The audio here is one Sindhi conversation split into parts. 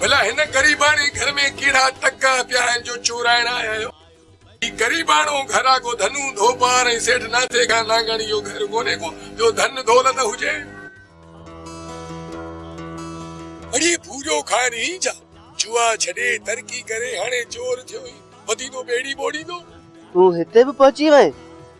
ڀلا هن غريباڻي گهر ۾ ڪهڙا تڪا پيا آهن جو چورائڻ آيا آهيو. هي غريباڻو گهر آ ڪو ڌنو ڌوپار ۽ سيٺ ناٿي خان نانگاڻي جو گهر ڪونهي ڪو جو ڌن دولت هجي. اڙي ڀوريو کائر هين جا جوا ڇڏي ترقي ڪري هاڻي چور ٿيو هين وڌيندو ٻيڙي ٻوڙيندو. تون هتي به پهچي وئين.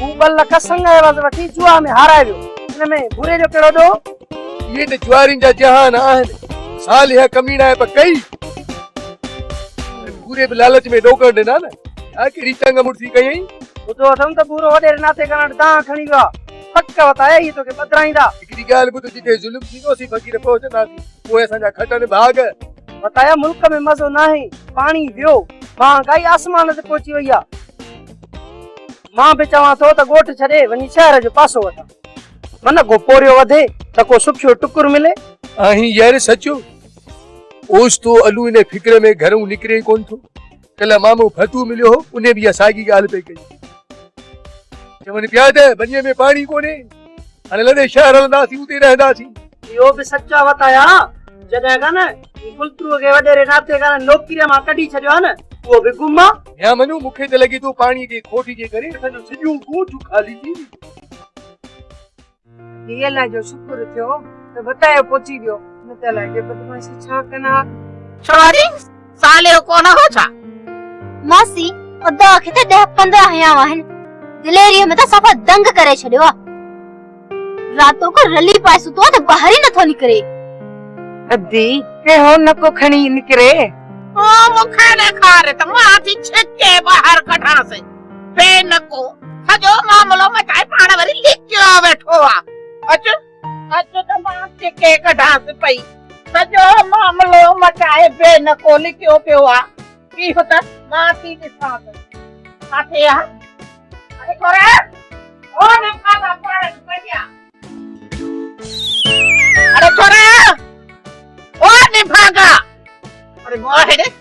هو ٻه لک سڱ عوض وٺي جوا ۾ هارائي ويو. ان ۾ ڀوري جو ڪهڙو ڏوهه؟ اهي ته جوارين جا جهان آهن. صالح ڪميڻائي به ڪئي ۽ ڀوري به لالچ ۾ ڏوڪڙ ڏنا نه. اها ڪهڙي چنگ مڙسي ڪيئين؟ ٻڌو اٿم ته ڀورو وڏيري ناتي ڪرڻ وٽ دانهن کڻي ويو آهي. پڪ وت آهي، اهي توکي پڌرائيندا. هڪڙي ڳالهه ٻڌ، جتي ظلم ٿيندو اسين فقير پهچنداسين. پوء اسان جا کٽن ڀاڳ. وتايا ملڪ ۾ مزو ناهي، پاڻي ويو، مهانگائي آسمان تي پهچي وئي آهي. مان به چوان ٿو ته ڳوٺ ڇڏي وڃي شهر جو پاسو وٺان. من ڪو پورهيو وڌي ته ڪو سکيو ٽڪر ملي. آهين يار سچو. اوچتو الو ان فڪر ۾ گهرئون نڪري ئي ڪونه ٿو. ڪلهه مامو ڦٽو مليو هو، ان به اها ساڳي ڳالهه پئي ڪئي. چون پيا ته ٻنيء ۾ پاڻي ڪونهي. هن لڏي شهر هلنداسين اتي رهنداسين. اهو به سچ آ وتايا جڏهن کان نه گلترو کي وڏيري ناتي کان نه نوڪريء مان ڪڍي ڇڏيو آ نه اهو به گم آ. ميان منو مون کي ته لڳي ٿو پاڻي جي کوٽ جي ڪري اسان جو سڄو ڳوٺ خالي ٿي ويو. هي الله جو شڪر ٿيو ته وتايو پهچي ويو نه ته الائي جي بدمعاشي ڇا ڪن ها. ڇا ڏي؟ صالح ڪونه هو ڇا؟ ماسي ادا کي ته ڏهه پندرهن هيا آهن دليري ۾ ته صفا دنگ ڪري ڇڏيو آ راتو ڪو رلي پائي ستو آ ته ٻاهر ئي نٿو نڪري. ادي ڪي هو نڪو کڻي نڪري. هو مون کي ڏيکاري ته مان ٿي ڇڪي ٻاهر ڪڍانس بي نڪو سڄو معاملو مٽائي پاڻ وري لڪيو ويٺو آ اچ. اچ ته مان ڇڪي ڪڍانس پئي. سڄو معاملو مٽائي بي نڪو لڪيو پيو آ. بيهه ته مان ٿي ڏسان ته ڇا ٿئي ها. اڙي قرآن او نفا ٿا پڙهن پيا. اڙي قرآن او نفاقا. اڙي ماهڙي.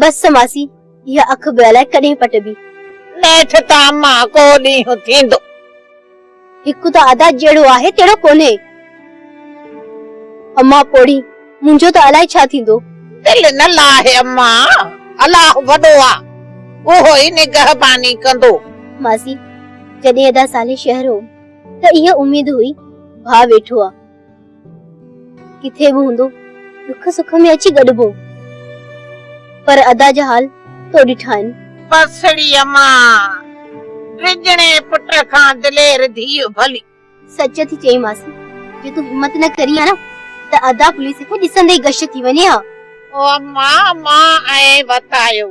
بس ماسي، اها اک به الائي ڪڏهن پٽبي. نيٺ ته اما ڪو ڏينهن ٿيندو. هڪ ته ادا جهڙو آهي تهڙو ڪونهي. اما پوڙهي، منهنجو ته الائي ڇا ٿيندو. دل نه لاهه اما، الله وڏو آ، اهو ئي نگهباني ڪندو. ماسي، جڏهن ادا صالح شهر هوم ته اها اميد هئي، ڀاء ويٺو آ. ڪٿي به هوندو ڏک سک ۾ اچي گڏبو پر ادا جا حال تو ڏٺا آهن. پسڙي امان ڊڄڻي پٽ کان دلير ڌيء ڀلي. سچ ٿي چئين ماسي جي تون همت نه ڪرين ها نه ته ادا پوليس کي ڏسندي ئي غش ٿي وڃي ها. او امان مان ائين وتايو.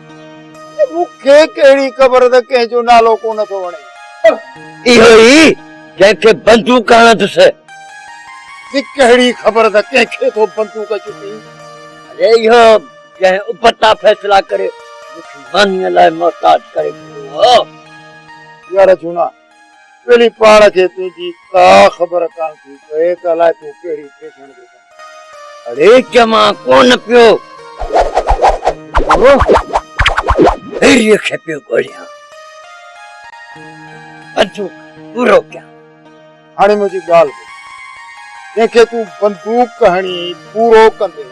مون کي ڪهڙي خبر ته ڪنهن جو نالو ڪو نه ٿو وڻي. اهو ئي جنهن کي بندوق هڻندس. جي ڪهڙي خبر ته ڪنهن کي ٿو بندوق چٽي. اري اهو جنهن ابتا فيصلا ڪري مون کي مانيء لاء محتاج ڪري ڇڏيو هو. يار جهونا! ٻيلي پاڻ کي تنهنجي ڪا خبر ڪانه ٿي پئي ته الائي تون ڪهڙي پيشڻ جو ڪم اڙي چمان ڪونه پيو ٿو ڀيريء کي پيو ڳوليان بندوق پورو ڪيان. هاڻي منهنجي ڳالهه ٻڌ جنهن کي تون بندوق هڻي پورو ڪندين.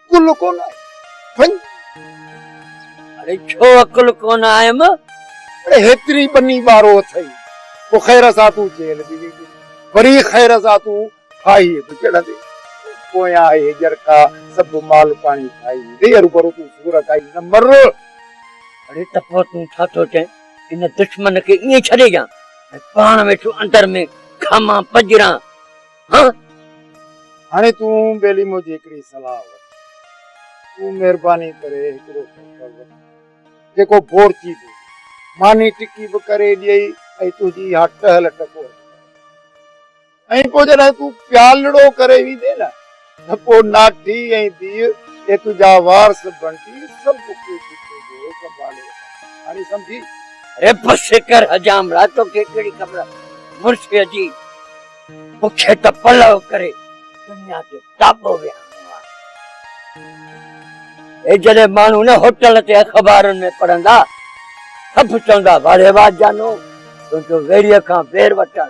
عقل ڪونه آئي وڃ اڙي ڇو عقل ڪونه آيم اڙي هيتري ٻني ٻارو اٿئي پو خير سان تون جيل به ويندي وري خير سان تون ڦاهي به چڙهندي پويان آهي هجرڪا سڀ مال پاڻي کائي ويندي هرو ڀرو تون سور کائي نه مر اڙي ٽپو تون ڇا ٿو چئين ان دشمن کي ائين ڇڏي ڏيان ۽ پاڻ ويٺو اندر ۾ کامان پڄران هاڻي تون ٻيلي منهنجي هڪڙي صلاح وٺ. تون مهرباني ڪري هڪڙو ٽڪر وٺ جيڪو بورچي به هجي. ماني ٽڪي به ڪري ڏيئي ۽ تنهنجي اها ٽهل ٽڪور به ڪري ڏيئي ۽ پوء جڏهن تون پيالڙو ڪري ويندين نه ڌڪو ناٺي ۽ ڌيء اي تنهنجا وارث بڻجي سڀ ڪجهه تنهنجو سنڀالي وٺن. هاڻي سمجهي؟ رب شڪر حجام لاء توکي ڪهڙي خبر مرثيه جي. مونکي ته پلئه ڪري دنيا جو ٽاٻو وهاڻو آهي. هي جڏهن ماڻهو نه هوٽل تي اخبارن ۾ پڙهندا سڀ چوندا واڙي واهه جانو تنهنجو ويڙهيء کان وير وٺڻ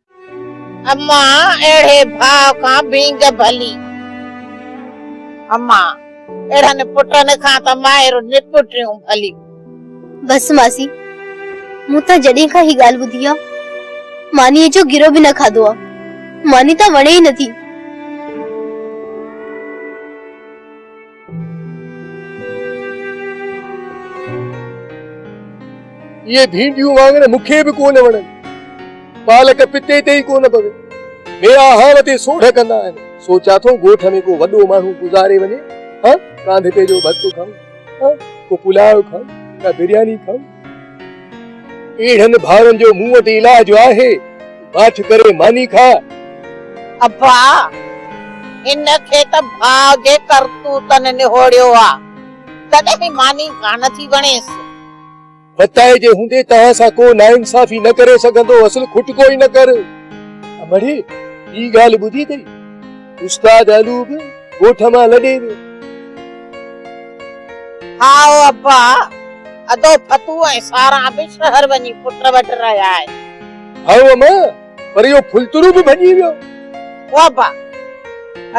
امان اهڙي ڀاء کان ڀينگ ڀلي. امان اهڙن پٽن کان ته مائر نپٽيون ڀلي. بس ماسي مون تان جڏهن کان هي ڳالهه ٻڌي آ مانيء جو گرو به نه کاڌو آ ماني تان وڻي ئي نٿي. اهي ڀينڊيون وانگر مون کي به ڪونه وڻن. پالڪ پتي تي ئي ڪونه پوي. ميرا هانء تي سوڍ ڪندا آهن. سوچيان ٿو ڳوٺ ۾ ڪو وڏو ماڻهو گذاري وڃي ها ڪانڌڪي جو ڀت کائون ها ڪو پلاء کائون ڪا برياني کائون. اهڙن ڀائرن جو مون وٽ علاج آهي، باٺ ڪري ماني کاء. ابا! هن کي ته ڀاء جي ڪرتوتن نهوڙيو آ، تڏهن ماني ڪانه ٿي وڻيس. ڀتائي جي هوندي توهان سان ڪو ناانصافي نه ڪري سگهندو هئس، کٽڪو ئي نه ڪر. امڙي! ٻي ڳالهه ٻڌي اٿئي؟ استاد علو به ڳوٺ مان لڏي ويو. هائو ابا، ادو ڦتو ۽ ساران به شهر وڃي پٽ وٽ رهيا آهن. هائو اما، پر اهو ڦلتڙو به ڀڄي ويو. هو ابا،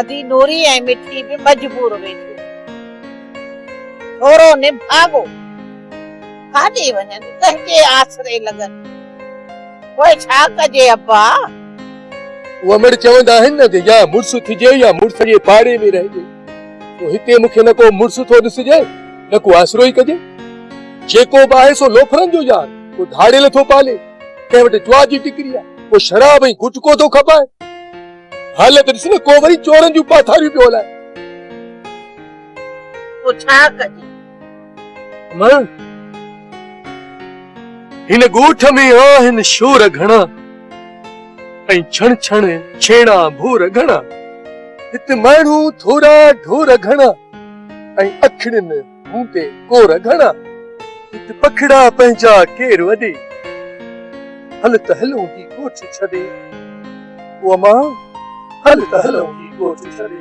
ادي نوري ۽ مٺي به مجبور ويٺيون. ٿورو نڀاڳو. ڪاڏي وڃن ڪنهن جي آسري لڳن پوء ڇا ڪجي ابا. اهو مڙ چوندا آهن نه ته يا مڙس ٿجي يا مڙس جي پاڙي ۾ رهجي پوء هتي مون کي نه ڪو مڙس ٿو ڏسجي نه ڪو آسرو ئي ڪجي. جيڪو به آهي سو لوفرن جو يار ڪو ڌاڙيل ٿو پالي ڪنهن وٽ جوا جي ٽڪري آهي ڪو شراب ۽ گٽڪو ٿو کپائي حالت ڏس نه ڪو وري چورن جون پاٿاريون پيو هلائي. پوء ڇا ڪجي. هن ڳوٺ ۾ آهن شور گهڻا ۽ ڇڻ ڇڻ ڇيڻا ڀور گهڻا هت ماڻهو ٿورا ڍور گهڻا ۽ اکڙين هوندي ڪور گهڻا هت پکڙا پنهنجا ڪير وڏي هل ته هلون هي ڳوٺ ڇڏي او امان هل ته هلون هي ڳوٺ ڇڏي.